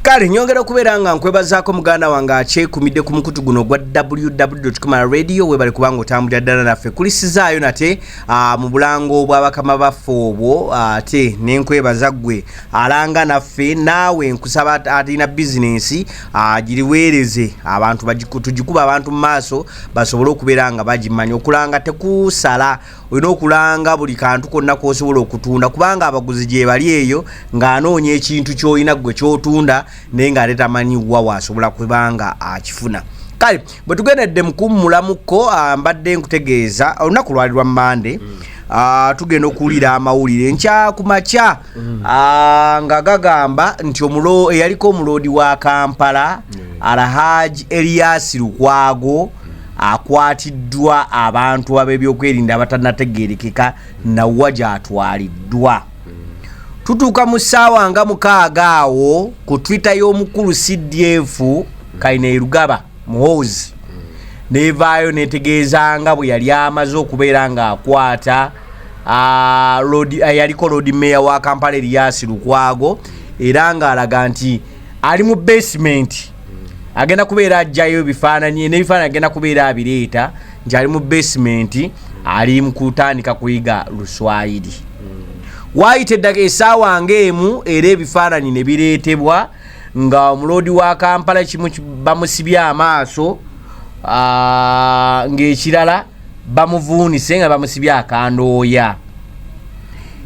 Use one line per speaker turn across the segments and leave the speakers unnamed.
kale nyongera okubeera nga nkwebazaako muganda wange akyekumidde ku mukutu guno ogwa wwkmala radio webale kubanga otambulira ddala naffe kulisizaayo nate ah, mu bulango bwabakama baffe obwo ah, ate nenkwebaza ggwe alanga naffe naawe nkusaba atalina bizinensi ah, giriweereze abantu tugikuba abantu mu maaso basobole okubeera nga bagimanya okulanga tekusala olina okulanga buli kantu konna k'osobola okutunda kubanga abaguzi gyebali eyo ng'anoonya ekintu ky'olina ggwe ky'otunda naye ng'ate tamanyi wa waasobola kubanga akifuna kale bwe tugendedde mukummulamuko ah, mbadde nkutegeeza olunaku lwali lwa mande mm. Ah, tugenda okuwulira amawulire nkya ku makya mm. ah, nga gagamba nti eyaliko omuloodi wa kampala alhaji elias lukwago akwatiddwa abantu ab'ebyokwerinda abatanategeerekeka nawa gyatwaliddwa tutuuka mu ssaawa nga mukaaga awo ku twitter y'omukulu cdf kaina erugaba muhoozi nevaayo netegeeza nga bwe yali amaze okubeera ng'akwata yaliko lodi meeya wa kampala eriyasi lukwago era ng'alaga nti ali mu basementi agenda kubeera ajjayo ebifaananyi n'ebifaananyi agenda kubeera abireeta nti ali mu basementi ali mu kutandika kuyiga luswayiri waayita eddaka esaawa ngaemu era ebifaananyi ne bireetebwa nga omuloodi wa kampala kimu bamusibye amaaso ng'ekirala bamuvuunise nga bamusibye akandooya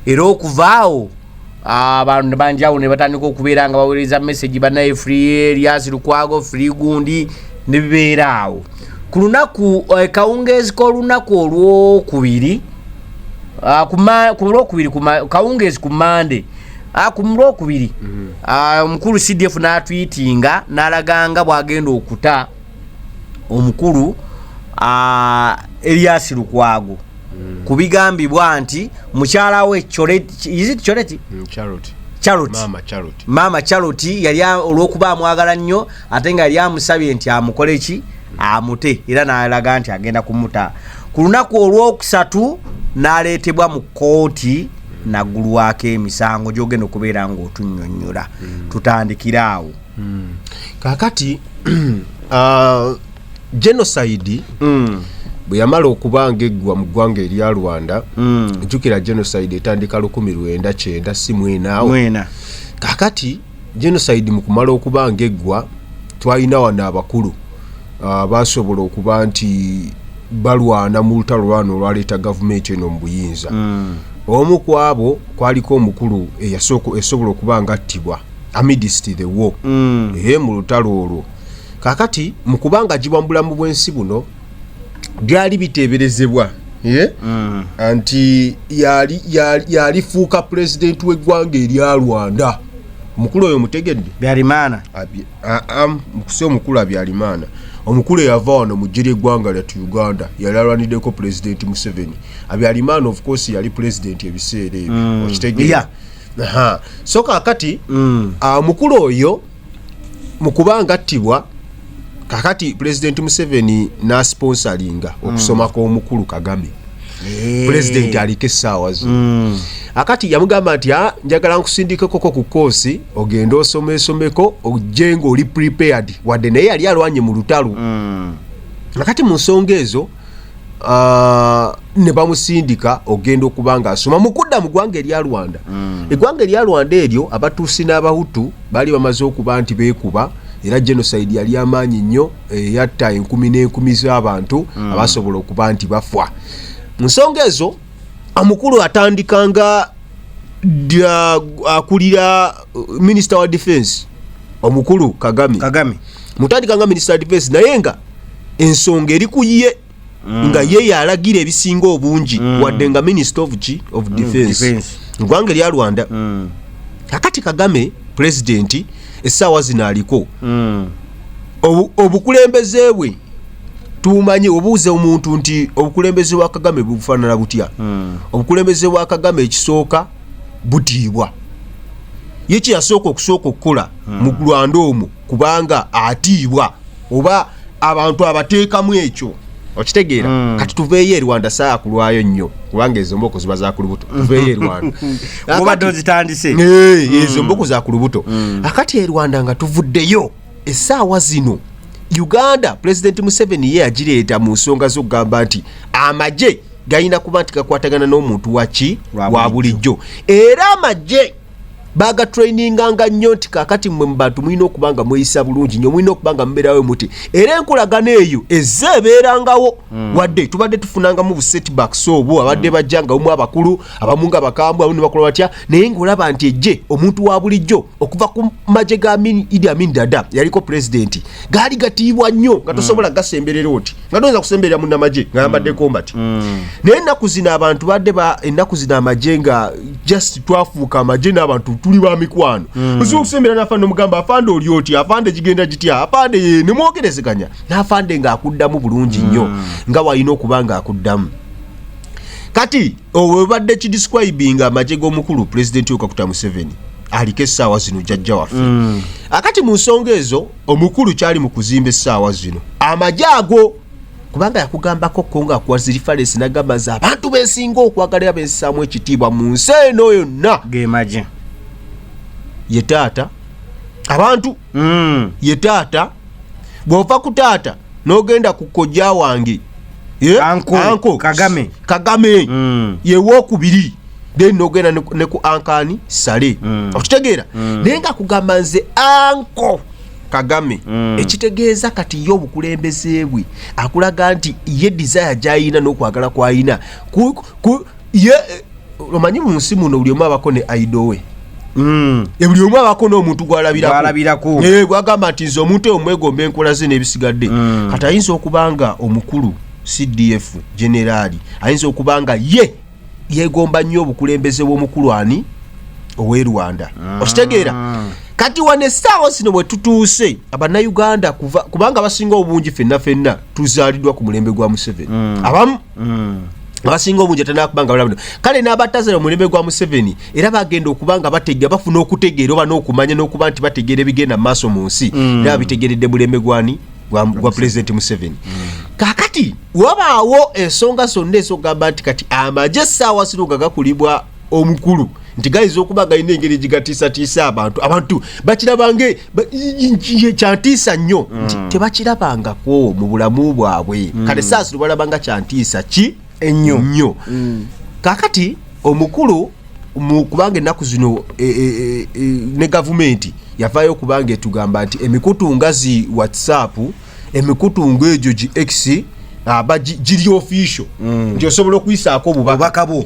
era okuvaawo abantu banjawo ne batandika okubeera nga baweereza message banaye free elias lukwago free gundi ne bibeera awo ku lunaku eh, kawungeezi k'olunaku olwokubiri ah, ku lwokubiri kawungeezi ku mande ah, ku lwokubiri mm-hmm. ah, omukulu cdf n'atwitinga n'alaganga bw'agenda okuta omukulu uh, Elias Lukwago mm. kubigambibwa nti mukyala we Charity mm, Charity Mama Charity Mama Charity yali olwokuba amwagala nnyo ate nga yali amusabye nti amukole ki amute era n'alaga nti agenda kumuta ku lunaku olwokusatu n'aleetebwa mu kkooti nagulwako emisango gyogenda okubeera ng'otunyonyola mm. tutandikire awo mm. kakati
uh, genocide mm. bwe yamala okuba ngaeggwa mu ggwanga erya rwanda mm. jjukira genocide etandika lukumi lwenda kyenda si mwenaawo kakati genocide mu kumala okuba ngaeggwa twalina wano abakulu uh, basobola okuba nti balwana mu lutalo lwana olwaleeta gavumenti eno mu buyinza mm. omu ku abo kwaliko omukulu eyasobola okuba nga attibwa amidst the war mm. e mu lutalo olwo kakati mu kubanga gibwa mu bulamu bw'ensi buno byali biteeberezebwa ye mm. nti yalifuuka pulezidenti w'eggwanga erya rwanda omukulu oyo mutegedde byalimaana mukusi omukulu abyalimaana omukulu eyava wano mu jjira eggwanga lyatu uganda yali alwaniddeko pulezidenti museveni abyalimaana of course yali pulezidenti ebiseera ebyo mm. okitegee Aha. so kakati Mm. ah, mukulu oyo mukuba ngattibwa kakati pulezidenti museveni n'asponsalinga okusoma kw'omukulu kagame pulezidenti aliko essaawa zino Mm. akati yamugamba nti "Ah, njagala nkusindikekoko ku koosi ogende osomesomeko ojje ng'oli prepared wadde naye yali alwanye mu lutalo Mm. akati mu nsonga ezo uh, ne bamusindika ogenda okuba nga asoma mu kudda mu ggwanga erya rwanda mm. eggwanga erya rwanda eryo abatuusi n'abahutu baali bamaze okuba nti beekuba era genocide yali amaanyi nnyo eyatta eh, enkumi n'enkumi z'abantu mm. abasobola okuba nti bafwa mu nsonga ezo omukulu atandika nga akulira uh, minister wa defense omukulu kagame kagame mutandika nga minister wa defense naye nga ensonga eri ku ye mm. nga ye yalagira ebisinga obungi mm. wadde nga minister of ki of mm, defense mm, ngwanga erya rwanda mm. akati kagame president essaawa zino aliko mm. obukulembeze bwe tumanyi obuuze omuntu nti obukulembeze bwa kagame bufanana butya hmm. obukulembeze bwa kagame ekisooka butiibwa ye kyeyasooka okusooka okukola hmm. mu lwanda omwo kubanga atiibwa oba abantu abateekamu ekyo okitegeera hmm. kati tuveeyo erwanda saa kulwayo nnyo kubanga ezo mboko ziba zakulubuto tuveeyo erwanda obadde
ozitandise hmm. ezo mboko
zakulubuto akati erwanda nga tuvuddeyo esaawa zino uganda pulezidenti museveni ye yagireeta mu nsonga z'okugamba nti amagye galina kuba nti gakwatagana n'omuntu waki wa bulijjo era amagye bagatraininganga nnyo nti kakati mwe mubantu mulina okuba nga mweyisa bulungi nyo mulina okuba nga mubeerawo muti era enkolagana eyo ezze ebeerangawo hmm. wadde tubadde tufunangamu busetbacks obwo abadde hmm. bajja nga omu abakulu abamu nga bakambwe abamu nebakola batya naye ngaolaba nti ejje omuntu wa bulijjo okuva ku magye ga idi amin dada yaliko pulezidenti gaali gatiibwa nnyo nga tosobola hmm. gasemberera oti nga toyinza kusemberera munamagye nga yambadde mm. kombati mm. naye ennaku zino abantu badde ennaku zino amagye nga just twafuuka amagye n'abantu tuli ba mikwano mm. oziba okusembera n'afande omugamba afande oli oti afande gigenda gitya afande ye nemwogerezeganya n'afande ng'akuddamu bulungi nnyo nga walina okuba ng'akuddamu kati owebadde kidescribinga amagye g'omukulu pulezidenti yokakuta museveni aliko essaawa zino jajja waffe akati mu nsonga ezo omukulu kyali mu kuzimba essaawa zino amagye ago kubanga yakugambako ko nga akuwa zirifalensi nagamba nze abantu besinga okwagala era bensaamu ekitiibwa mu nsi eno yonna gemagye ye taata abantu mm. ye taata bw'ova ku taata nogenda ku kojja wange eh,
anko kagame kagame mm.
yewokubiri then nogenda ne ku ankani sale mm. okitegeera mm. naye nga kugamba nze anko kagame mm. ekitegeeza kati ye obukulembeze bwe akulaga nti ye desire gyayina n'okwagala kwayina ye eh, omanyi mu nsi muno buli omu abako ne aido we mm. e, buli omu abako n'omuntu gwalabirako eh, gwagamba nti nze omuntu eyo mwegomba enkola ze n'ebisigadde mm. kati ayinza okuba nga omukulu cdf generaali ayinza okuba nga ye yegomba nnyo obukulembeze bw'omukulu ani ow'e rwanda ah. okitegeera kati wano essaawa zino bwe tutuuse abannayuganda kubanga basinga obungi fenna fenna tuzaalidwa ku mulembe gwa museveni mm. abamu mm. abasinga obungi atanakuba nga balabino kale n'abatazala omulembe gwa museveni era bagenda okuba nga bategera bafuna okutegeera oba n'okumanya n'okuba nti bategeera ebigenda mu maaso mu nsi mm. era babitegeredde mulembe gwani gwa pulezidenti museveni kakati wabaawo ensonga zonna ezogamba nti kati amagye essaawa zino nga gakulibwa omukulu nti gayinza okuba galina engeri egigatiisatiisa abantu abantu bakirabange kyantiisa nnyo nti mm. tebakirabangako mu bulamu bwabwe mm. kale saasi lubalabanga kyantiisa ki ennyo nnyo mm. kakati omukulu kubanga ennaku zino e, e, e, ne gavumenti yavaayo okubanga etugamba nti emikutu nga zi whatsapp emikutu ngaegyo gi x aba giri official mm. nti osobola okuyisaako obubaka bwo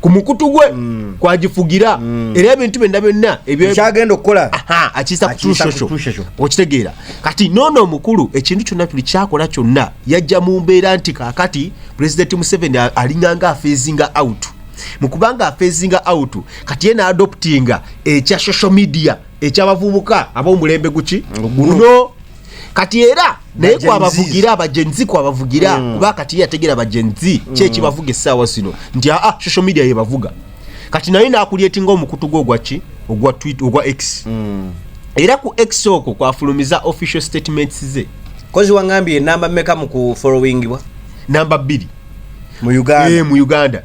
ku mukutu gwe mm. kwagifugira mm. era ebintu byonna byonna ebyagenda okukola
akiyisa kutushosho
okitegeera kati noono omukulu ekintu kyonna tuli kyakola kyonna yajja mu mbeera nti kakati pulezidenti museveni alinganga afeezinga out mu kubanga afeezinga out kati ye naadoptinga ekya social media ekyabavubuka ab'omulembe guki guno kati era naye kwabavugira abagenzi kwabavugira mm. kuba kati yategera abagenzi mm. kyekibavuga essaawa zino nti aa ah, ah, social media yebavuga kati naye nakulyetinga omukutu gwe ogwaki ogwa twit ogwa x mm. era ku x okwo kwafulumiza official statements ze kozi wangambye
enamba meka mu kufolowingibwa namba bbiri
mu Uganda
eh mu Uganda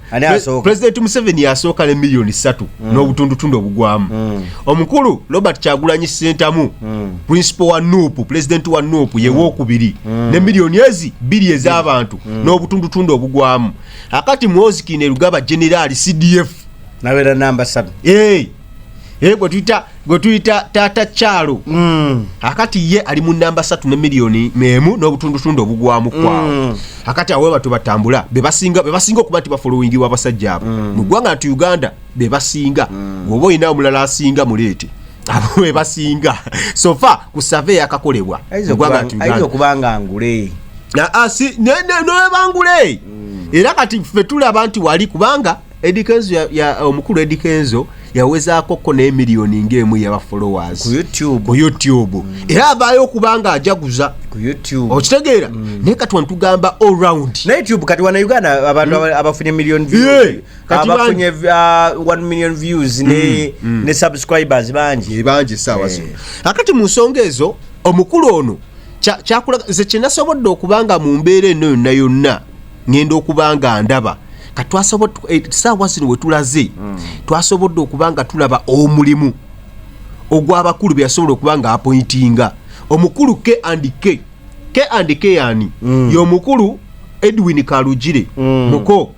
president
Museveni yasooka ne milioni 3 mm. n'obutundu tundu obugwamu mm. omukulu Robert Chagulanyi Sentamu mm. principal wa NUP president wa NUP mm. yewo okubiri mm. ne milioni ezi bili ez'abantu mm. n'obutundu tundu obugwamu akati mwozi kine lugaba general CDF nabera namba
7 eh hey. Eh, gwe tuyita
gwe tuyita taata kyalo mm. akati ye ali mu namba satu ne miliyoni emu n'obutundutundu obugwamu kwawo mm. akati awo webatu batambula bebasinga bebasinga okuba nti bafolowingibwa abasajja abo mm. mu ggwanga nti uganda bebasinga woba olina omulala asinga muleete abo bebasinga sofa ku save yakakolebwa ayinza
okuba nga ngule ah, ah, newebangule
era kati ffe tulaba nti wali kubanga Eddie Kenzo ya, ya eh, omukulu Eddie Kenzo yawezaako ko ne million ngemu ya followers ku YouTube ku YouTube
mm. era abayo
kubanga ajaguza ku YouTube
okitegeera mm. ne
kati wantu gamba all round na YouTube kati wana Uganda
abantu mm. abafunye million views yeah. kati abafunye uh, 1 million views mm. ne mm. ne subscribers banji e banji sawa yeah.
akati mu nsonga ezo omukulu ono kyakula cha, cha ze kinasobodde okubanga mu mbeera eno yonna yonna ngenda okuba nga ndaba eh, saawa zino wetulaze mm. twasobodde okuba nga tulaba omulimu ogw'abakulu beyasobola okuba nga apointinga omukulu k and k k and k yani mm. yomukulu edwin kalugire mm. muko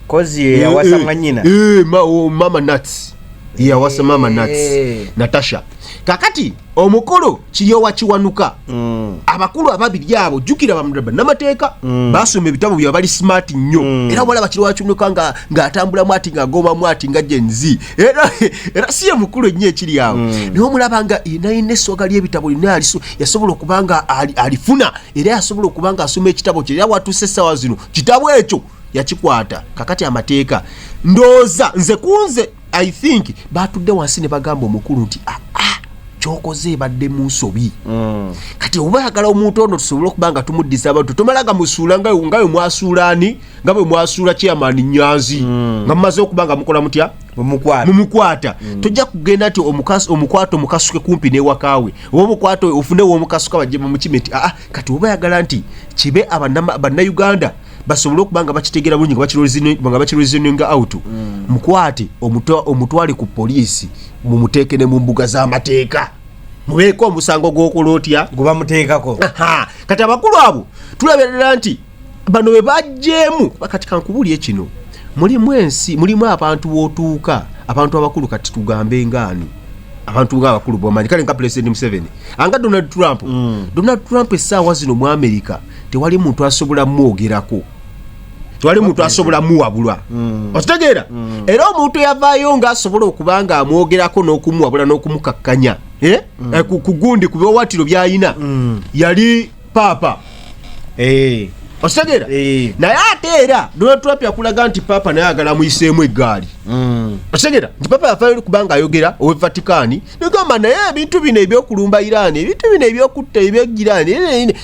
kozi eh, yawasa eh, mwanyina eh, ma, oh, mama
nats yawasa mama nats eh. natasha kakati omukolo kiyowa kiwanuka mm. abakulu ababiri abo jukira bamraba namateeka mm. basoma ebitabo bya bali smart nnyo mm. era walaba kiri wakinuka nga ngaatambulamu ati ngagobamu ati nga genzi era era si ye mukulu ennyo ekiri awo mm. naye omulaba nga inayina essoga lyebitabo lina aliso yasobola okuba nga alifuna era yasobola okuba nga asoma ekitabo kye era watuuse essaawa zino kitabo ekyo yakikwata kakati amateeka ndooza nze kunze i think batudde wansi ne bagamba omukulu nti aa ah, ah, kyokoze ebadde mu nsobi mm. kati oba oyagala omuntu ono tusobole okuba nga tumuddiza abantu tomala nga musuula nga we mwasuula ani nga bwe mwasuula chairman nyanzi mm. nga mumaze okuba nga mukola mutya mumukwata mm. tojja kugenda nti omukwata omukasuke kumpi newakaawe oba omukwata ofune womukasuka bajje bamukime nti aa ah, kati oba oyagala nti kibe bannayuganda basobole okuba nga bakitegera bulungi nga bakireasoninga out mm. mukwate omutwale ku poliisi mumuteeke ne mu mbuga z'amateeka mubeeko omusango gw'okola otya gwebamuteekako
kati abakulu
abo tulaberera nti bano be bajjeemu kati kankubulye kino mulimu ensi mulimu abantu b'otuuka abantu abakulu kati tugambe ngaani abantu nga abakulu bwamanyi kale nga pulezidenti museveni anga donald trump mm. donald trump essaawa zino mu amerika tewali muntu asobola mwogerako tewali muntu asobola muwabulwa mm. okitegeera mm. era omuntu eyavaayo nga asobola okuba nga amwogerako n'okumuwabula n'okumukakkanya eh? mm. eh, ku gundi ku biwawatiro byalina yali paapa eh. okitegeera naye ate era donald trump yakulaga nti paapa naye agala muyiseemu eggaali okitegeera nti paapa yafayo kubanga ayogera owe vatikaani negamba naye ebintu bino ebyokulumba iraani ebintu bino ebyokutta ebyegiraani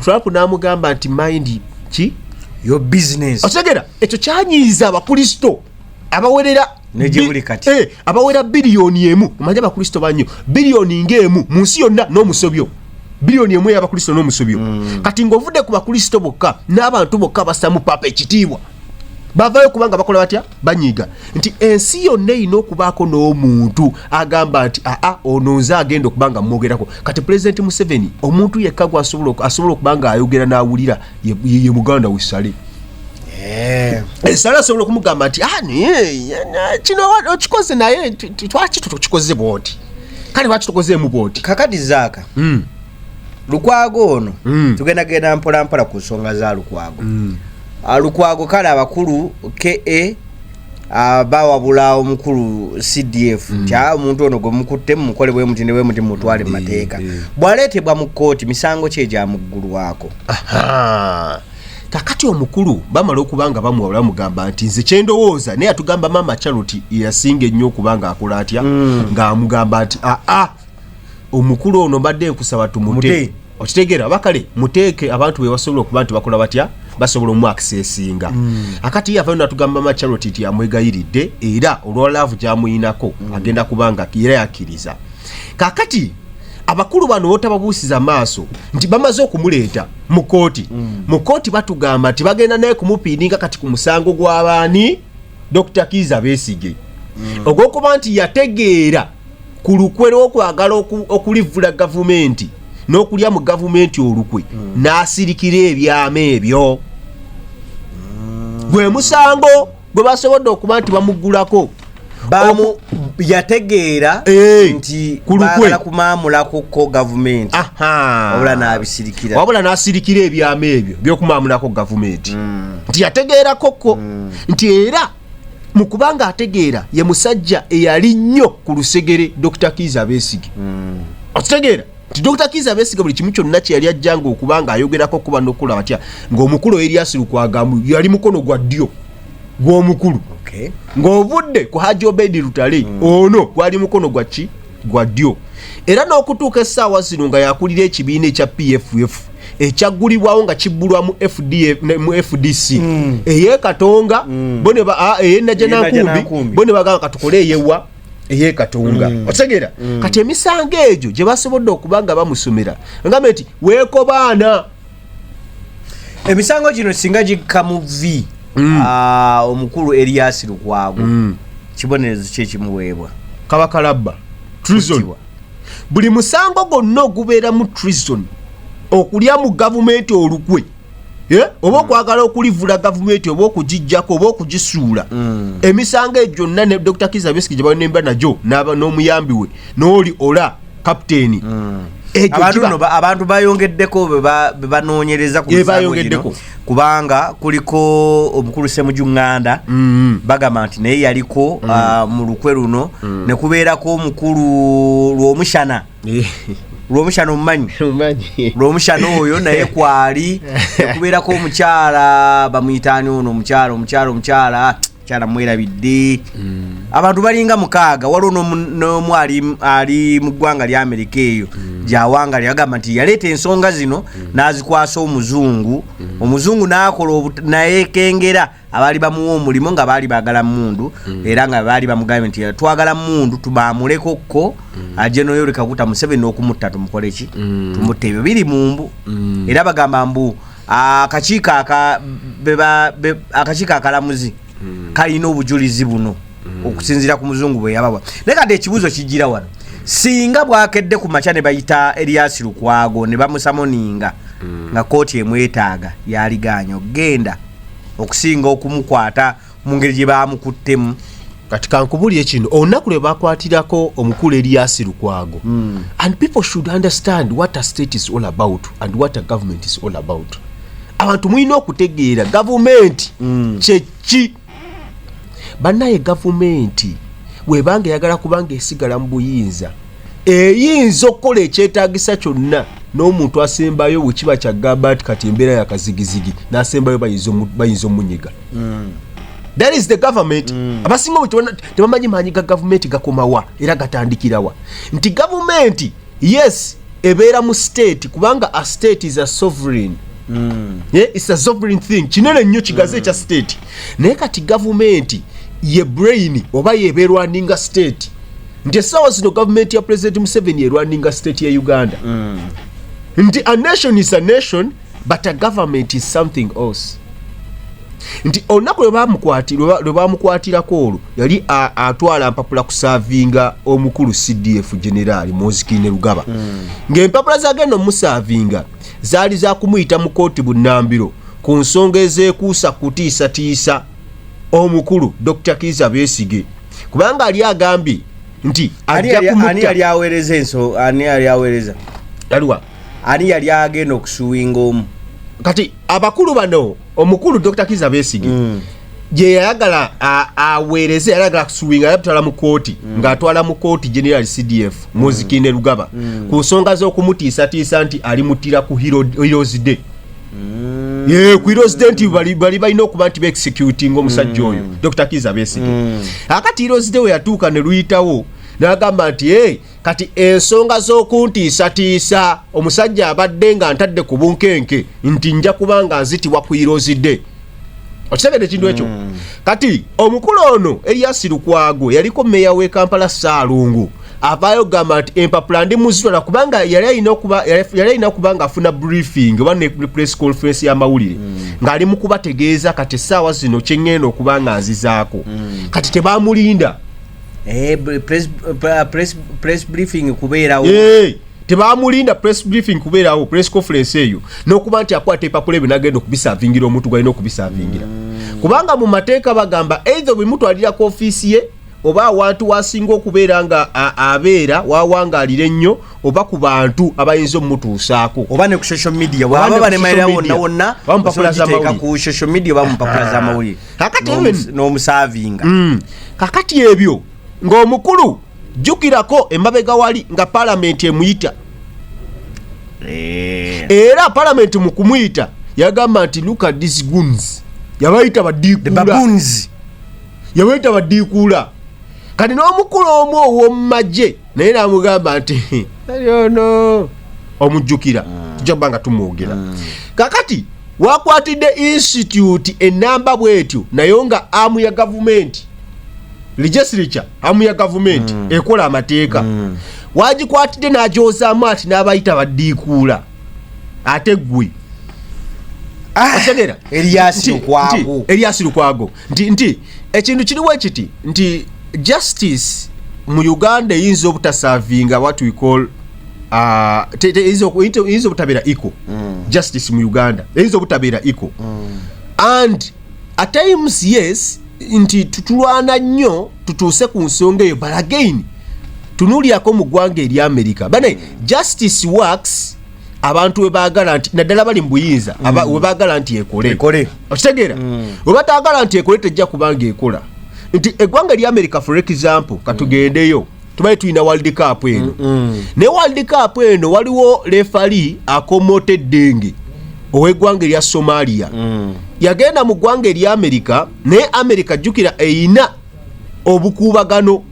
trump n'amugamba nti mind ki your business
okitegera ekyo
kyanyiiza abakristo abawerera nejebuli kati
eh, abawera biliyoni
emu omanyi abakristo banyo biliyoni ngaemu mu nsi yonna n'omusobyo biliyoni emu eyabakristo n'omusobyo mm. kati ng'ovudde ku bakristo bokka n'abantu bokka basamu papa ekitiibwa bavayo kubanga bakola batya banyiiga nti ensi yonna erina okubaako n'omuntu agamba nti aa ono nze agenda okuba nga mwogerako kati pulezidenti museveni omuntu yekka gwe asobola okuba nga ayogera n'awulira ye muganda we sale eh. esala eh, asobola okumugamba nti ah, kino okikoze naye twaki tukikoze bwoti kale lwaki tukozeemu bwoti kakati zaaka hmm.
lukwago ono hmm. tugenda genda mpolampola ku nsonga za lukwago hmm. Ah, lukwago kale abakulu ka ah, bawabula omukulu cdf mm. nti ah, omuntu ono gwemukutte mumukole bwemuti nebwemuti mumutwale mumateeka mm, mm. bwaleetebwa mu kkooti misango ki egyamuggulwako kakati omukulu bamala okuba nga bamuwabula bamugamba nti nze kyendowooza naye atugamba maama charlotte yasinga ennyo okuba nga akola atya ng'amugamba nti aa omukulu ono mbadde nkusaba tumute okitegeera aba kale muteeke abantu bebasobola okuba nti bakola batya basobola omwakisa esinga hmm. akati yavayo natugamba macharot nti amwegayiridde era olwalaavu gyamuyinako hmm. agenda kubanga era yakkiriza kakati abakulu bano botababuusiza maaso nti bamaze okumuleeta mu kooti hmm. mu kooti batugamba nti bagenda naye kumupiininga kati ku musango gw'abaani dr kiiza beesige ogwokuba nti yategeera ku lukwe lw'okwagala okulivvula gavumenti n'okulya mu gavumenti olukwe hmm. n'asirikira ebyama ebyo hmm. gwe musango gwe basobodde okuba nti bamuggulako yategeera eh, nti bagala kumaamulakuko gavumenti wabula n'abisirikira wabula n'asirikira ebyama ebyo by'okumaamulako gavumenti hmm. nti yategeerakokko nti era mu kubanga ategeera ye musajja eyali nnyo ku lusegere dr kiiza beesige mm. okitegeera nti dr kiiza beesige buli kimu kyonna kye yali ajjanga okuba nga ayogerako okuba nokukula batya ng'omukulu eriasi lukwagamu yali mukono gwa ddyo
gw'omukulu ng'ovudde ku haji obedi lutale mm. ono gwali mukono gwa ki gwa ddyo era n'okutuuka essaawa zino nga yakulira ekibiina ekya pff ekyaggulibwawo nga kibbulwa mu fdc mm. eyekatonga mm. eyenajanankumbi bo ne bagamba katukole eyewa eyekatonga mm. otegera kati emisango egyo gye basobodde okuba nga bamusomera ngamba nti weekobaana
emisango gino singa gikka mu vi mm. ah, omukulu eriyasi lukwago mm. kibonerezo ki ekimuweebwa kaba kalabba
trison buli musango gwonna ogubeeramu trison okulya mu gavumenti olukwe eh? oba mm. okwagala okulivula gavumenti oba okugijjako oba okugisuula emisango egyo gyonna ne dr kizabesiki gye banemba nagyo n'omuyambi we n'oli ola kapiteeni
mm. abantu bayongeddeko bebanonyereza kubayongeddeko kubanga kuliko omukulu semuju nganda mm-hmm. bagamba nti naye yaliko mm. ah, mu lukwe luno mm. nekubeerako omukulu lwomushana eh. lwomushana omumanyi lwomushana oyo naye kwali nekubeerako omukyala bamuyitaani ono omukyala omukyala omukyala kyala mwerabidde mm. abantu balinga mukaaga waliwo nomu ali mu ggwanga lya amerika eyo mm. gyawanga lyagamba nti yaleeta ensonga zino mm. n'azikwasa omuzungu omuzungu n'akola nayekengera abaali bamuwa omulimu nga baali bagala mundu era nga baali bamugambye nti twagala mundu tubamuleko kko ajje noyorekakuta museveni okumutta tumukoleki tumutta ebyo biri mumbu era bagamba mbu akakiiko akakiiko akalamuzi hmm. kalina obujulizi buno hmm. okusinzira ku muzungu bwe yabawa naye kadde ekibuuzo kijjira wano singa bwakedde ku makya ne bayita eriyasi lukwago ne bamusamoninga hmm. nga kooti emwetaaga yaliganya okugenda okusinga okumukwata mu ngeri gye baamukuttemu kati kankubulire
kino olunaku lwe bakwatirako omukulu eriyasi lukwago hmm. and people should understand what a state is all about and what a government is all about abantu mulina okutegeera gavumenti hmm. kyeki banaye gavumenti webanga eyagala kubanga esigala mu buyinza eyinza okukola ekyetagisa kyonna n'omuntu asembayo wekiba kyagamba nti kati embeera yakazigizigi nasembayo bayinza omunyiga mm. that is the government mm. abasinga obu tebamanyi maanyi ga gavumenti gakomawa era gatandikirawa nti gavumenti yes ebeera mu state kubanga a state is a sovereign mm. yeah, it's a sovereign thing kinene nnyo kigaze ekya mm. state naye kati gavumenti ye brain oba yeberwaninga state nti essaawa zino gavumenti ya president museveni erwaninga state ya uganda mm. nti a nation is a nation but a government is something else nti olunaku lwe bamukwatirako olwo yali atwala mpapula kusaavinga omukulu cdf generaali mozikine lugaba hmm. ng'empapula zagenda omusaavinga zaali zakumuyita mu kooti bunambiro ku nsonga ezekuusa kutiisatiisa omukulu dr kiza besige kubanga ali agambye nti
ajja kumuta ani yali agenda okusuwinga omu kati
abakulu bano omukulu dr kiza besigi mm. gye yayagala aweereze yayagala akusuwinga yatwala mu kooti mm. ng'atwala mu kooti general cdf mm. muzikinde lugaba mm. ku nsonga z'okumutiisatiisa nti alimuttira ku heroes day mm. ye ku heroes day nti bali balina okuba nti beexecutinga omusajja mm. oyo mm. dr kiza besigi mm. akati heroes day we yatuuka ne luyitawo n'agamba nti hey, kati ensonga z'okuntiisatiisa omusajja abadde nga ntadde ku bunkenke nti nja kuba nga nzitibwa ku irozide okitegede ekintu ekyo hmm. kati omukulu ono eyasi lukwago yaliko meeya w'e kampala saalungu avaayo gamba nti empapula ndi muzitola kubanga yali alina okuba nga afuna briefing oba ne press conference y'amawulire hmm. ng'ali mu kubategeeza kati essaawa zino kye ŋŋenda okuba nga nzizaako hmm. kati tebamulinda Eh, press, uh, press,
press briefing kubeerawo hey, eh, tebamulinda
press briefing kubeerawo press conference eyo n'okuba nti akwata epapula ebyo nagenda okubisavingira omuntu gwalina okubisavingira mm. kubanga mu mateeka bagamba eitho bwemutwalira ku ofiisi ye oba awantu wasinga okubeera nga abeera wawangaalira ennyo oba ku bantu abayinza omutuusaako oba ne ku social media
waba banemalira wonna wonna osobiteeka ku social media oba mupapula z'amawulire kakati even n'omus- n'omusaavinga Mm.
kakati ebyo ng'omukulu jjukirako emabega wali nga palamenti emuyita Eh, era palamenti mu kumuyita yagamba nti look at these goons yabayita the badiikuula baboons yabayita badiikuula kati n'omukulu omu ow'omumagye naye namugamba nti ali ono omujjukira ah. tujja kuba nga tumwogera ah. kakati wakwatidde institute enamba bwetyo nayo nga amu ya gavumenti legislature amu ya gavumenti mm. ekola amateeka mm. wagikwatidde nagyozaamu ati n'abayita baddiikuula ate ggwe ah, eriasi lukwago nti nti ekintu kiriwo ekiti nti justice mu uganda eyinza obutasavinga what we call uh, te- te- eyinza oku- eyinza- eyinza obutabeera eco Mm. justice mu uganda eyinza obutabeera eco and at times yes nti tutulwana nnyo tutuuse ku nsonga eyo but again tunuulyako mu ggwanga erya america bane justice works abantu webagala nti naddala bali mu buyinza mm. webagala nti ekole okitegeera mm. webatagala nti ekole tejja kubanga ekola nti eggwanga erya america for example katugendeyo mm. tubali tulina world cup eno naye world cup eno waliwo lefali akomoota eddenge ow'eggwanga erya somalia yagenda mu ggwanga erya america naye america jjukira eyina obukuubagano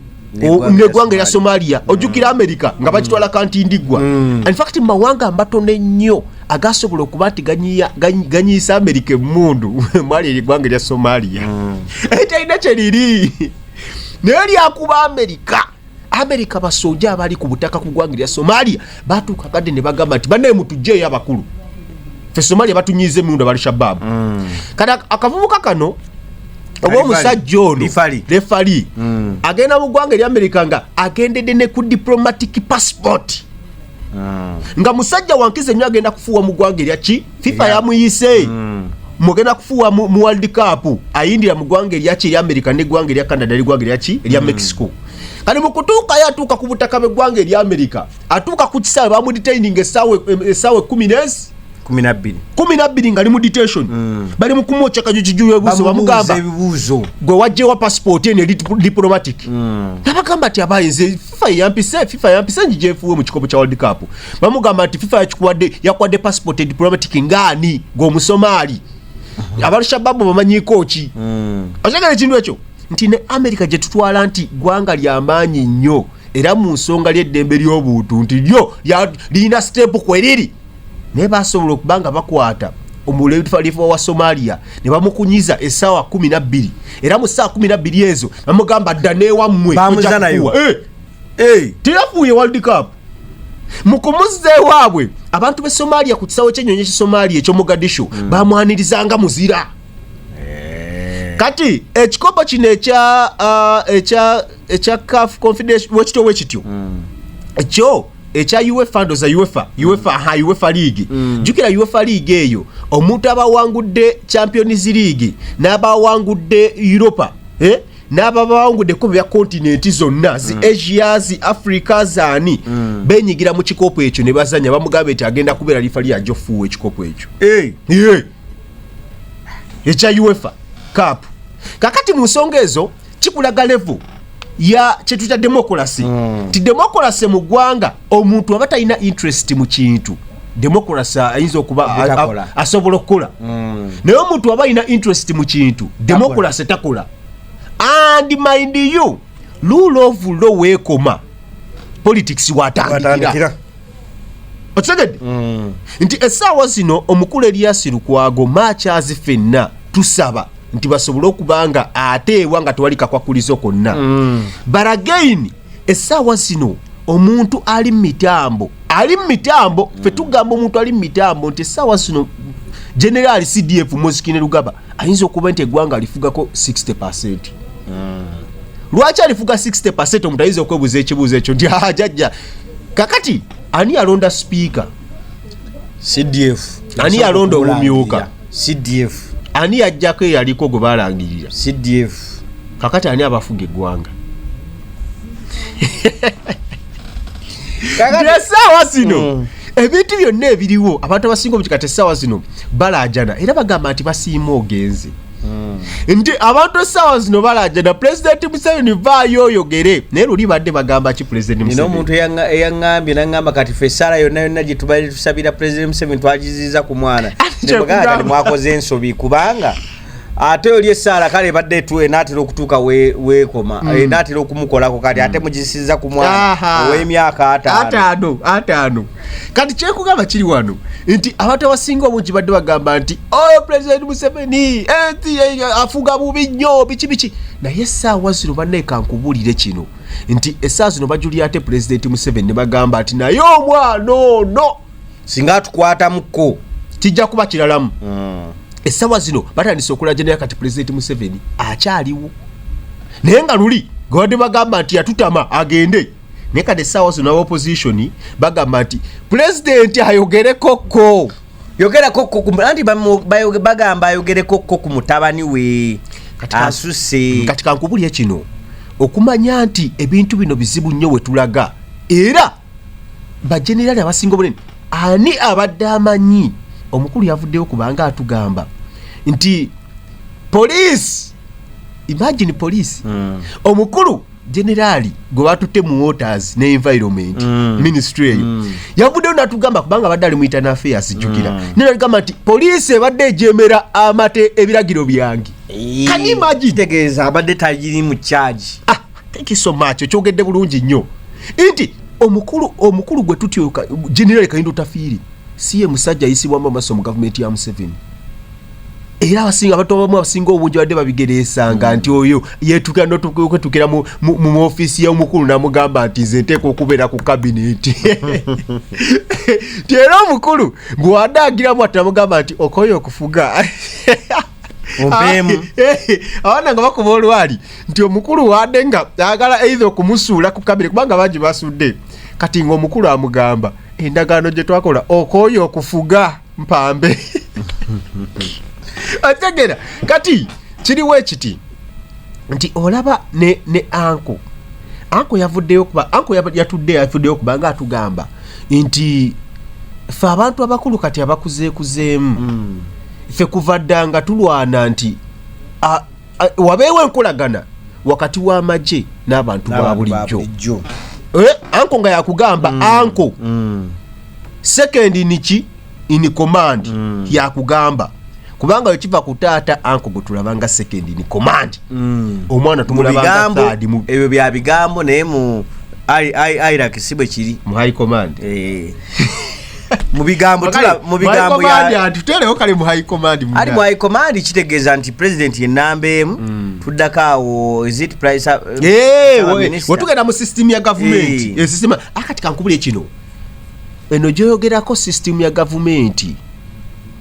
negwanga erya somalia mm. ojukira america nga bakitwala mm. kanti ndigwa mm. infact mumawanga amatono ennyo agasobola okuba nti ganyiisa america emundu mwali erigwanga erya somalia etalina kyeriri naye lyakuba america amerika basoja abali ku butaka ku gwanga lya somalia batuuka kadde ne bagamba nti banaye mutujjeeyo abakulu fe somalia batunyiiza emiwundo bali shababu mm. kati akavubuka kano oba omusajja ono refali mm. agenda mu ggwanga eryamerika nga agendedde ne ku diplomatic passport mm. nga musajja wankizi enyo agenda kufuuwa mu ggwanga erya ki fifa yeah. yamuyise mm. mugenda kufuuwa mu, mu world cup ayindira mu ggwanga erya ki erya america neggwanga erya canada neggwanga erya ki erya mm. mexico kati mukutuukayo atuuka ku butaka bweggwanga erya america atuuka ku kisaawe bamudetaining esaawa esaawa ekumi nezi kumi nabbiri kumi nabbiri nga li mu detention mm. bali mukumwokya kajukijuyo ebuzo bamugamba gwe wajjewa passport ene diplomatic mm. nabagamba ti abaye nze fifa yeyampise fifa yampise njijefuwe mu kikopo kya world cup bamugamba nti fifa yakikuwadde yakuwadde passport diplomatic ngaani gweomusomaali uh-huh. abalshababu bamanyiko ki hmm. okyagala ekintu ekyo nti ne america gyetutwala nti gwanga lyamaanyi nnyo era mu nsonga lyeddembe ly'obuntu nti lyo lirina sitepu kweriri naye basobola okuba nga bakwata omulefalifa wa somalia ne bamukunyiza essaawa kumi nabbiri era mu ssaawa kumi nabbiri ezo bamugamba dda neewammwe eh! eh! teyafuuye world cup mu kumuzza ewaabwe abantu be somalia ku kisawo kyenyonyi ekye somalia ekyo mugadisho hmm. bamwanirizanga muzira eh. kati ekikopo kino ekya uh, ekya ekya caf confidential wekityo wekityo hmm. ekyo ekya uefa ndoza uefa uefa ha uefa league mm. jukira uefa league eyo omuntu abawangudde champions league n'abawangudde europa eh? n'ababawangudde kuba bya kontinenti zonna zi mm. asia zi africa zaani mm. benyigira mu kikopo ekyo ne bazanya bamugamba nti agenda kubeera lifa lyajo fuuwa ekikopo ekyo hey. yeah. ekya uefa cap kakati mu nsonga ezo kikulaga level ya kyetuyita democracy mm. ti democracy mu ggwanga omuntu aba talina interest mu kintu democracy ayinza okuba asobola okukola mm. naye omuntu aba alina interest mu kintu democracy takola and mind you rule of law weekoma politics watandikira okitegedde mm. nti essaawa zino omukulu eriyasi lukwago maakyazi fenna tusaba nti basobole okuba nga ate ewa nga tewali kakwakulizo konna mm. but again essaawa zino omuntu ali mu mitambo ali mu mitambo fe mm. tugamba omuntu ali mu mitambo nti essaawa zino generaali cdf muzikine lugaba ayinza okuba nti eggwanga alifugako 60 percent mm. lwaki alifuga 60 percent omuntu ayinza okwebuuza ekibuuzo ekyo nti ajajja kakati ani alonda sipiika
cdf ani yalonda
omumyuka cdf
ani yajjako
eyaliko gwe balangirira cdf
kakati ani
abafuga eggwanga esaawa zino mm. ebintu byonna ebiriwo abantu abasinga obutikati esaawa zino balaajana era bagamba nti basiima ogenze hmm. nti abantu essaawa zino balajana pulezidenti museveni vaayo oyogere naye luli badde bagamba ki pulezidenti omuntu eyaŋambye
naŋamba kati fe esaala yonna yonna gye tubadde tusabira pulezidenti museveni twagiziza ku mwana nemugaaati mwakoze ensobi kubanga ate oli esaala kale ebadde etu enaatera okutuuka weekoma mm. enaatera okumukolako kati ate mm. mugisiza ku mwana ow'emyaka ataano
kati kyekugamba kiri wano nti abantu abasinga obungi badde bagamba nti oyo oh, pulezidenti museveni eh, afuga bubi nnyo biki biki naye essaawa zino baneka nkubulire kino nti essaawa zino bajulira ate pulezidenti museveni ne bagamba nti naye omwana ono singa
atukwatamuko kijja kuba
kiralamu hmm. essaawa zino batandise okulajanira kati pulezidenti museveni akyaliwo naye nga luli gwadde bagamba nti yatutama agende naye kati essaawa zino aba opposition bagamba nti pulezidenti ayogereko ko yogerako
anti bagamba ayogereko ko ku mutabani we asuse kati kankubulya
kino okumanya nti ebintu bino bizibu nnyo wetulaga era bajenerali abasinga obunene ani abadde amanyi omukulu yavuddeyo kubanga atugamba nti poliisi imagine poliisi hmm. omukulu generali gwe batutte mu waters ne environment mm. ministry eyo mm. yavuddeyo natugamba kubanga abadde ali mu internal affairs jjukira mm. naye natugamba nti poliisi ebadde ejemera amate ebiragiro byange kanimagitegeeza abadde tagiri
mu charge ah, thank you so
much okyogedde bulungi nnyo nti omukulu omukulu gwe tutyoka generali kayindo tafiiri si ye musajja ayisibwamu amaso mu gavumenti ya museveni era abasinga abantu abamu abasinga obungi badde babigereesanga hmm. nti oyo yetuka nokwetukira mu ofiisi yomukulu namugamba nti nze nteeka okubeera ku kabineti nti era omukulu bwewade agiramu ati namugamba nti okoye okufuga abaana nga bakuba olwali nti omukulu wade nga agala eitha okumusuula ku kabineti kubanga bangi basudde kati ngaomukulu amugamba endagaano gye twakola okoye okufuga mpambe ategera kati kiriwo ekiti nti olaba ne, ne anko anko yavuddeyo kuba anko yatudde yavuddeyo kubanga atugamba nti fe abantu abakulu kati abakuzeekuzeemu mm. fe kuva dda nga tulwana nti a, wabeewo enkolagana wakati w'amagye n'abantu ba bulijjo eh, anko nga yakugamba mm. anko mm. sekendi niki in command mm. yakugamba kubanga wekiva ku taata anko gwe tulabanga sekendi in command mm. omwana tumulabanga ebyo bya bigambo
naye mu iraq si bwe kiri mu high command eh. mu bigambo tula mu bigambo ya
tutelewo kale mu high command mu ali mu high command
kitegeeza nti president ye namba emu mm. tuddako awo is it price uh, eh
watugenda mu system ya government e eh, system akati kankubule kino eno joyogerako system ya government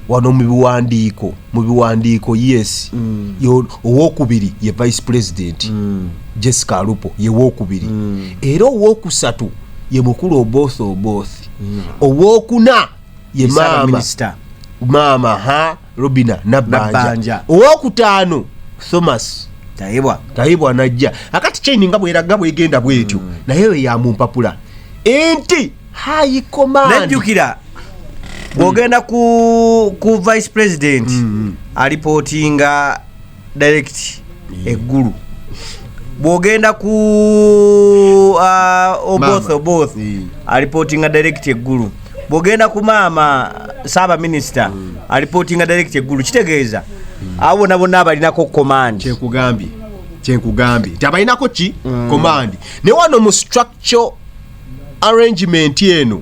wano mu biwandiiko mu biwandiiko yes mm. owokubiri ye vice president mm. jessica alupo ye wokubiri mm. era owokusatu ye mukulu oboth oboth mm. owokuna ye maama maama ha robina nabanja owokutaano thomas tayibwa tayibwa najja akati chaini nga bweraga bwegenda bwetyo mm. naye eyo yamumpapula enti high command najjukira
bwogenda mm. ku, ku vice president mm -hmm. alipotinga direct yeah. eggulu bwogenda ku uh, oboth oboth yeah. alipotinga direct eggulu bwogenda ku maama saaba minisita mm. alipotinga direct eggulu kitegeeza mm. abo bona bonna abalinako command kyekugambye
kyenkugambye nti abalinako ki mm. command ne wano mu kyo arrangement eno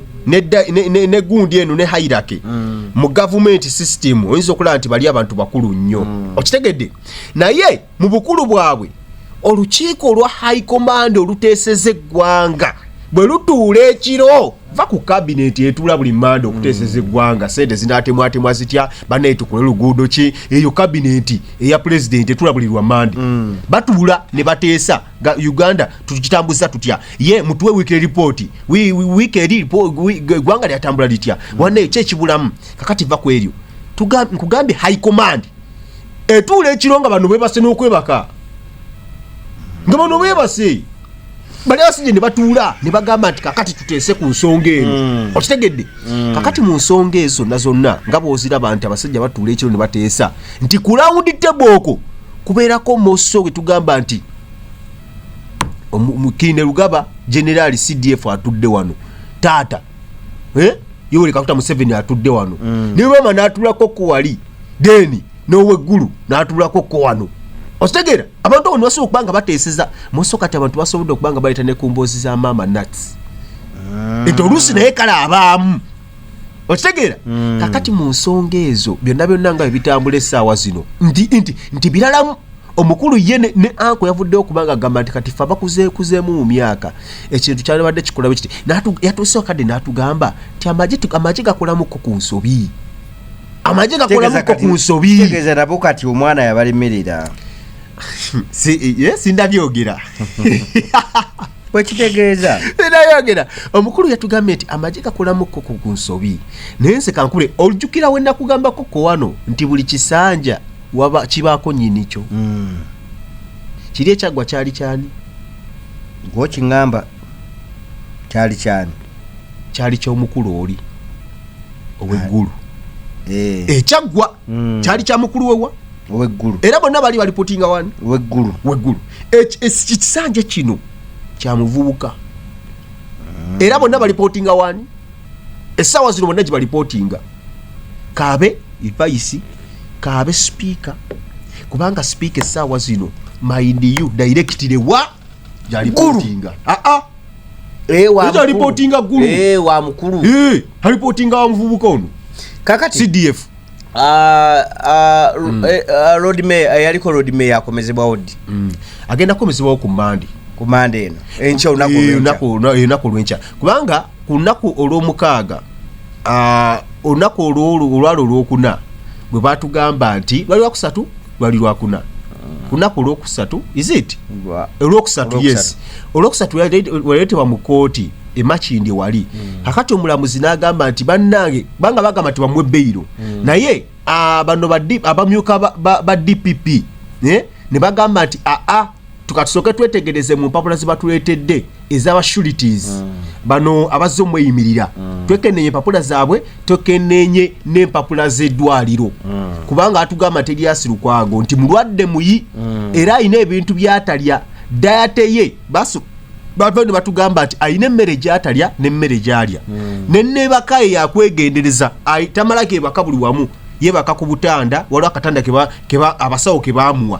ne gundi eno ne hairake mm. mu gavumenti system oyinza okulaba nti bali abantu bakulu nnyo mm. okitegedde naye mu bukulu bwabwe olukiiko olwa high command oluteeseza eggwanga bwe lutuula ekiro va ku kabineti etula buli manda okuteeseza mm. eggwanga sente zinatemwatemwa zitya banaetukule luguudo ki eyo kabineti eya pulezidenti etula buli lwa manda batuula ne bateesa ga Uganda tukitambuza tutya ye mutuwe weekly report we weekly report gwanga lya tambula litya mm. wane che kibulamu kakati va kwelyo tugambe kugambe high command etule ekironga bano bebase nokwebaka ngabo no bebase bali asije ne batula ne bagamba nti kakati tutese ku nsonga eno mm. okitegedde mm. kakati mu nsonga ezo nazonna ngabo ozira bantu abasajja batula ekiro ne batesa nti ku round table oko kubeerako moso gwe tugamba nti mukinde lugaba generaali cdf atudde wano taata eh? yoweri kakuta museveni atudde wano mm. ne roma n'atulako ko wali deni n'oweggulu n'atulako ko wano okitegera abantu abo nibasobola okuba nga bateeseza moso kati abantu basobodde okuba nga baleeta ne ku mboozi za maama nats ah. enti oluusi naye kale abaamu okitegeera mm. kakati mu nsonga ezo byonna byonna nga ebitambula essaawa zino nti nti nti biralamu omukulu ye ne, ne anko yavuddewo kubanga agamba nti kati fe abakuzeekuzeemu mu myaka ekintu kyalibadde kikulabe kiti yatuusewo kadde n'atugamba nti amagye gakolamuko ku nsobi amagye gakolamuko ku nsobi tegeeza nabo kati
omwana yabalemerera si, yes, eh,
ndabyogera
wekitegeeza nayogera
omukulu yatugambye nti amagye gakulamuko ku nsobi naye nse kankule ojjukira we nakugambako ko wano nti buli kisanja waba kibaako nyini kyo hmm. kiri ekyaggwa kyali kyani
gwokiŋamba kyali kyani kyali
kyomukulu oli oweggulu eh. ekyaggwa hmm. kyali kyamukulu wewa weggulu era
bonna bali balipotinga
wani weggulu weggulu
ekisanja
kino kya muvubuka era bonna balipootinga waani essaawa zino bonna gye balipootinga kaabe vayisi kaabe sipiika kubanga sipiika essaawa zino maindiu dairekitire wa gyalipootinga aa ah, ah. gyalipootinga eh, gulu eh, wa mukulu
eh, alipootinga wa
muvubuka ono kakati cdf
Ah, ah, mm. eh, ah, eh, yaliko road mayor akomezebwawo ddi mm. agenda
kukomezebwawo ku mande ku mande eno enkya
olunaku
olwenkya kubanga ku lunaku olwomukaaga olunaku olwalo olwokuna bwe batugamba nti lwali wakusatu lwali lwakuna kunaku olwokusatu isit olwokusatu yes olwokusatu waleetebwa mu kooti emakindi wali hmm. kakati omulamuzi n'agamba nti bannange banga bagamba nti bamuwe beyiro hmm. naye ah, bano abamyuka ba dpp eh, ne bagamba nti aa ah, ah, tukatusooke twetegereze mu mpapula zebatuleetedde ezaba shurities mm. bano abazze omweyimirira mm. twekenenye empapula zaabwe twekenenye n'empapula z'eddwaliro mm. kubanga atugamba teryasi lukwago nti mulwadde muyi mm. era alina ebintu byatalya dayate ye basu bava ne batugamba nti alina emmere gyatalya n'emmere gyalya mm. nenebaka ye yakwegendereza tamalako ebaka buli wamu yebaka ku butanda waliwo akatanda abasawo kebamuwa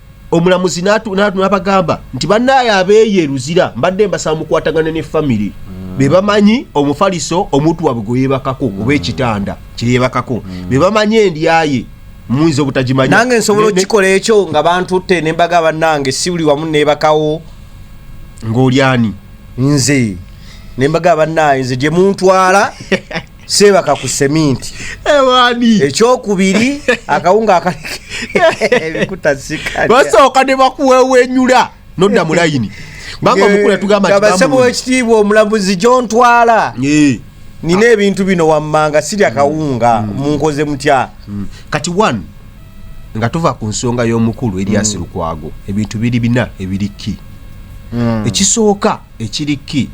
omulamuzi nabagamba nti banaye abeeyo eruzira mbadde mbasaba mukwatagana ne famiry mm. bebamanyi omufaliso omuntu wabwe gweyebakako mm. oba ekitanda kyeyebakako mm. bebamanyi endyaye muyinza obutagimanyi nange nsobola okukikola
ekyo nga bantutte nembaga banange sibuli wamu nebakawo
ngaolyani nze
nembaga banaye nze gyemuntwala seebaka ku seminti ewani
ekyokubiri
akawunga akalikebasooka ne
bakuwewenyula nodda mu layini kubanga omukulu yatugambakabasaba wekitiibwa
omulamuzi gyontwala nina ebintu bino wammanga siri akawunga mm. munkoze mutya mm. kati one
nga tuva ku nsonga y'omukulu eryasi mm. lukwago ebintu biri bina ebiriki ekisooka Ekiri kki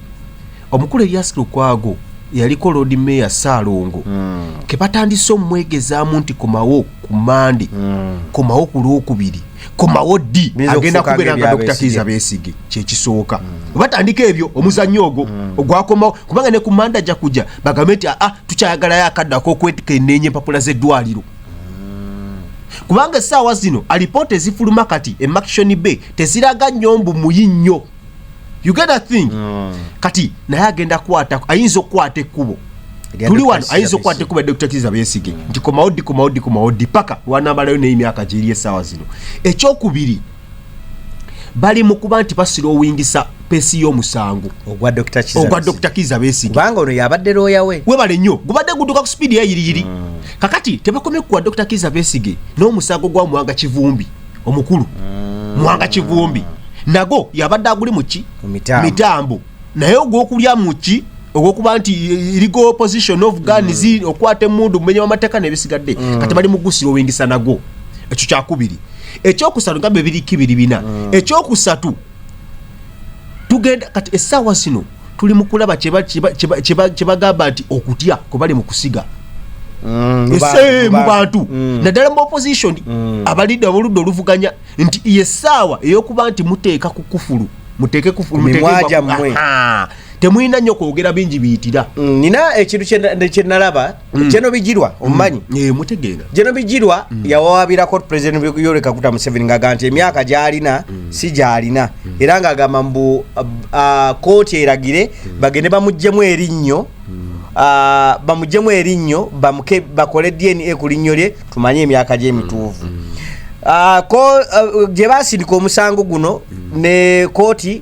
omukulu Elias Lukwago eyaliko Lord Mayor Ssaalongo mm. ke batandise omwegezaamu nti komawo ku Mande mm. komawo ku Lwokubiri komawo ddi agenda kubeera nga Dr. Kiiza Besigye kyekisooka mm. batandika ebyo omuzannyo ogwo mm. ogwakomawo kubanga ne ku Mande ajja kujja bagambe nti aa ah, tukyayagalayo akadde ak'okwekenneenya empapula z'eddwaliro kubanga essaawa zino alipoota ezifuluma kati emakishoni bay teziraga nnyo mbu muyi nnyo you get that thing mm. kati naye agenda kwata ayinza okukwata ekkubo tuli wano ayinza okukwata ekkubo dr kiza besige mm. nti komawo ddi komawo ddi komawo ddi paka wanamalayo naye emyaka gyeri essaawa zino ekyokubiri bali mu kuba nti basilowingisa pesi y'omusango ogwa
dr kiza
besige kubanga ono yabadde looya
we webale nnyo gubadde guduka
ku sipiidi yayiriyiri mm. kakati tebakomye kukuwa dr kiza besige n'omusango gwa muwanga kivumbi omukulu mm. mwanga kivumbi nago yabadde aguli muki mitambo naye ogwokulya muki ogwokuba nti legal position of guns mm. okwata emundu mumenya wamateeka nebisigadde mm. kati bali mugusira owingisa nago ekyo kyakubiri ekyokusatu nga bebiri kibiri bina mm. ekyokusatu tugenda kati esaawa zino tuli mu kulaba kye bagamba nti okutya kwe bali mu kusiga mm, ese mu bantu mm. naddala mu opposition mm. abalidde aboludde oluvuganya nti yesaawa eyokuba nti muteeka ku kufulu muteeke kufulumwajammwe temulina nnyo kwogera bingi biyitira nina ekintu
kyenalaba Mm. Jeno Bijirwa mm. omumanyi mm. yeah, mutegeera Jeno
Bijirwa mm.
yawawabirako president Yoweri Kaguta Museveni ng'agamba nti emyaka gy'alina mm. si gy'alina mm. era ng'agamba mbu uh, uh, kooti eragire mm. bagende bamuggyemu erinnyo mm. uh, bamuggyemu erinnyo bakole DNA ku linnyo lye tumanye emyaka gy'emituuvu mm. mm. uh, uh, gye baasindika omusango guno mm. ne kooti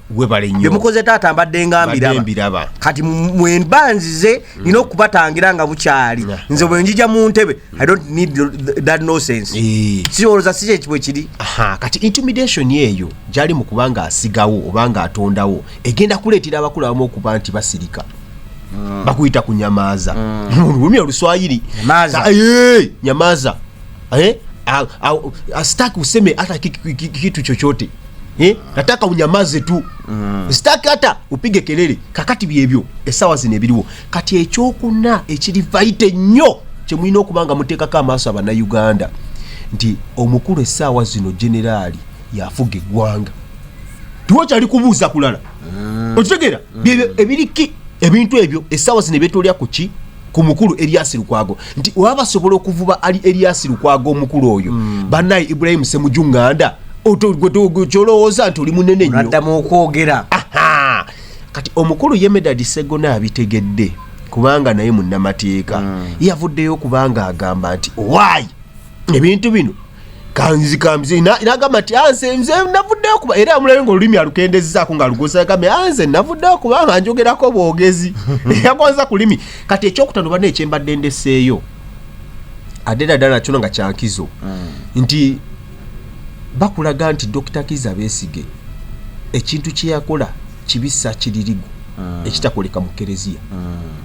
byemukoze taata mbadde nga mbiraba kati mwemba nzize mm. nina okubatangira nga bukyali nze bwenjija mu ntebe i don't need that nosense eh. siwoloza si kyekibwe kiri kati intimidation
eyo gyali mu kubanga asigawo oba nga atondawo egenda kuleetera abakulu abamu okuba nti basirika mm. bakuyita ku nyamaaza mm. olulumi oluswayiri nyamaaza eh? asitaki useme hata kitu chochote Eh, nataka unyamaze tu mm. sitaki hata upige kelele kakati byebyo esawa zino ebiriwo kati ekyokuna ekiri vaite nnyo kyemulina okuba nga muteekako amaaso abanauganda nti omukulu esaawa zino generaali yafuga eggwanga tiwakyali kubuuza kulala mm. okitegera mm. ebiriki ebintu ebyo esaawa zino ebyetolya ku ki ku mukulu Elias Lukwago nti oba basobola okuvuba ali Elias Lukwago omukulu oyo mm. banaye Ibrahim Semujunganda kyolowooza nti oli munene nyoaddamu okwogera kati omukulu ye Medard Ssegona abitegedde kubanga naye munnamateeka mm. yavuddeyo okubanga agamba nti owaayi ebintu bino kanzikamze nagamba nti anze ah, nze navuddeyo kuba era amulabe nga olulimi alukendezezaako nga alugosagambe anze ah, navuddeyo kubanga njogerako bwogezi yagonza ku limi kati ekyokutano bana ekyembadde ndeseeyo ate dada nakyono nga kyankizo mm. nti bakulaga nti dokita kiza besige ekintu kyeyakola kibisa kiririgu mm. ekitakoleka mu kereziya mm.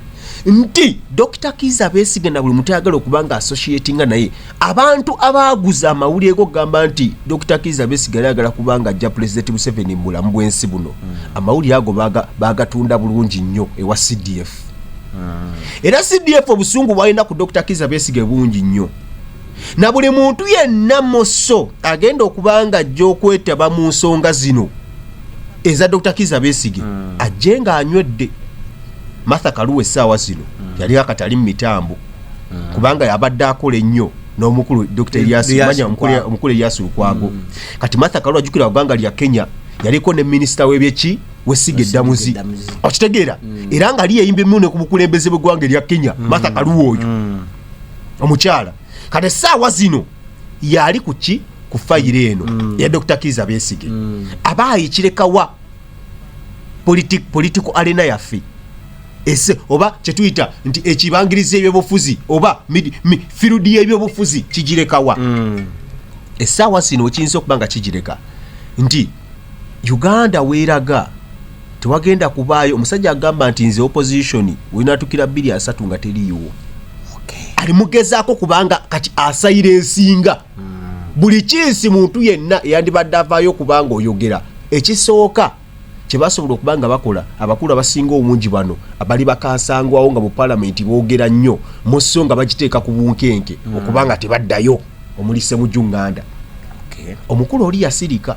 nti dokita kiza besigye na buli mutayagala okuba nga associatinga naye abantu abaaguza amawulire gokugamba nti dokita kiza besigye ayagala kuba nga ajja pulezidenti museveni mu bulamu bwensi buno mm. amawulire ago bagatunda bulungi nnyo ewa cdf era cdf obusungu bwalina ku dokita kiza besigye bungi nnyo na buli muntu yenna musso agenda okuba nga ajja okwetaba mu nsonga zino eza dr kiza besige mm. ajje nga anywedde matha kaluwa essaawa zino mm. yali akatali mu mitambo mm. kubanga yabadde akola ennyo n'omukulu dr omukulu elias lukwago mm. kati matha kaluwa ajukira ggwanga lya kenya yaliko ne minisita w'ebyeki wesiga eddamuzi okitegeera mm. era nga liyeyimba emmune ku bukulembeze bw'eggwanga erya kenya mm. matha kaluwa oyo mm. omukyala kati esaawa zino yaali ku ki ku fayiro eno mm. ya dr kiza besige mm. aba ayikirekawa political arena yaffe ese oba kyetuyita nti ekibangiriza ebyobufuzi oba field yebyobufuzi kigirekawa mm. esaawa zino ekiyinza okuba nga kigireka nti uganda weeraga tewagenda kubaayo omusajja agamba nti nze opposition wenatukira bbiri asatu nga teriiwo alimugezaako kubanga kati asayira ensinga hmm. buli kiisi muntu yenna eyandibadde avaayo okubanga oyogera ekisooka kyebasobola okuba nga bakola abakulu abasinga obungi bano abali bakansangwawo nga mu palamenti boogera nnyo musso nga bagiteeka ku bunkenke hmm. okubanga tebaddayo omuli semujunganda omukulu oli yasirika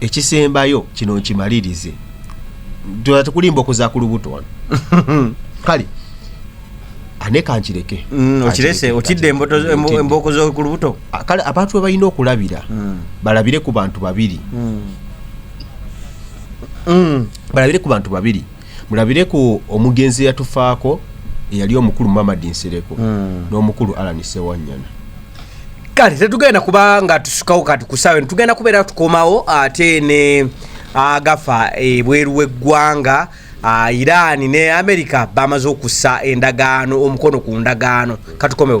ekisembayo kino nkimalirize tula tukulimba okuza ku lubuto wano kale ane kankireke Mm, okirese otidde
emboto zo- embo- embooko z'oku lubuto Ah, kale abantu be balina
okulabira Mm. balabire ku bantu babiri Mm. Mm. balabire ku bantu babiri mulabire ku omugenzi eyatufaako eyali omukulu mamadi nsereko hmm. n'omukulu alan sewanyana kale
tetugenda kuba nga tusukawo kati kusawe tugenda kubeera tukomawo ate ne agafa ebweru w'eggwanga ah, irani ne amerika bamaze okussa endagaano omukono ku ndagaano katukomewo